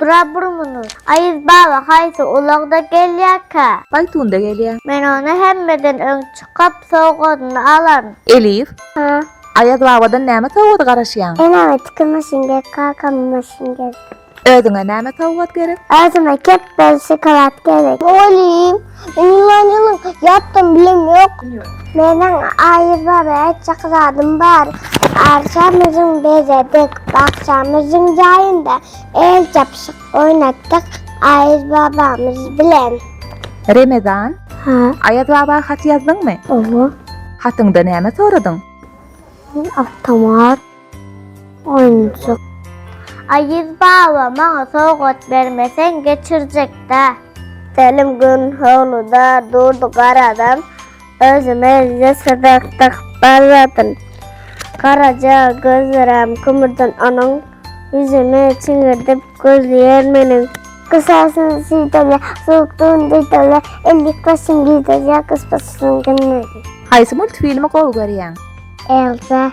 Bura burmuny. Aýyz baba haýsy ulagda gelýärkä? Paýtunda gelýä. Men ony hemmeden öň çykyp sowgadyny alaryn. Elif. Hä? Aýaz babadan näme sowgady garaşýaň? Eneme tikin maşyn gerek, kakama maşyn gerek. Özüňe näme sowgat gerek? Özüme kepbel, şokolad gerek. Mugallym, Ýylan ýylan ýatdym bilim ýok. Meniň aýyzlar aýtjak zadym bar. Arçamyzyň bezedik, bakjamyzyň jaýynda el çapyşyk oýnatdyk Aýyz babamyz bilen. Remezan, Aýaz baba hat ýazdyňmy? Hatyňda näme soradyň? Awtomat. Oýunjyk. Aýyz baba, maňa sowgat bermeseň, geçirjek-dä. Selim gün howluda durdy garadan, özüne ýeserek dakyp barýadyn. Garaja gözlerem kümürden onuň, ýüzüni çiňirdip gözleýär meniň. Gysasyny süýdälä, sowukdygyny duýdälä, ellik başyny giderýär gyspaçysynyň günleri. Haýsy multfilmi gowy görýäň? Elsa.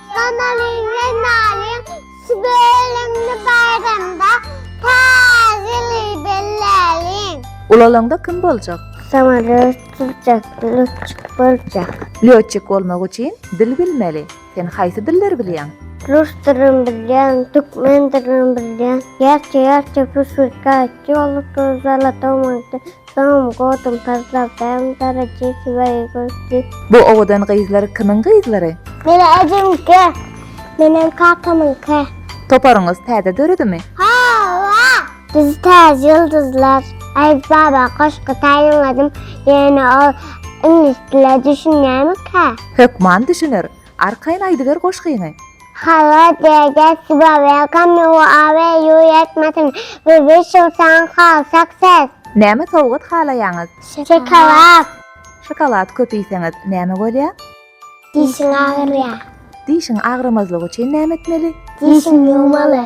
Ganalyň we nalyň şu bölegini baýramda tazyly belläliň. Ulalaňda kim boljak? Samolýot sürjek, lýotçik boljak. Lýotçik bolmak üçin dil bilmeli. Sen haýsy dilleri bilýäň? Rus dilini bilýän, türkmen dilini bilýän. Gerçe gerçe püşgirtge aýtdy ýoldaşlar zalatow maňkde. Soňam goduň tazlap bäň darajasy baýy gördi. Bu owadan gyzlar kimiň gyzlary? Meniň ejemiňki, menem kakamyňky. Toparyňyz täze döredimi? Hawa! Biz täze ýyldyzlar. Aýaz baba goşgy taýynladym, ýöne ol iňlis diline düşünýärmikä? Hökman düşüner. Arkaýyn aýdyber goşgyňy. Hallo Dede Suba welcome you awe you ýetmesin we wish you saň hal success. Näme sowgat halaýaňyz? Şokolad. Şokolad köp iýseňiz näme bolýa? Dişiň agyrýa. Dişiň agramazlygy üçin näme etmeli? Dişiň ýuwmaly.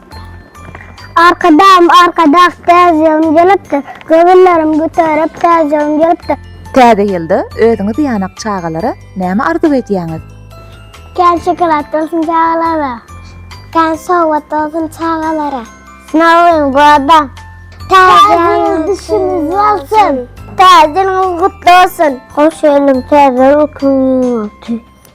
Arkadagym, Arkadag täze ýylym gelipdir, Göwünlerim göterip täze ýylym gelipdir. Täze ýylda özüňiz ýanak çagalara näme arzuw edýäňiz? Kän şokolad bolsun çagalara. Kän sowgat bolsun çagalara. S Nowy ýyl goda. Täze ýyl düşümiz bolsun. Täze ýylyňyz gutly bolsun. Hoş geldiň täze ýyl günüňiz bolsun.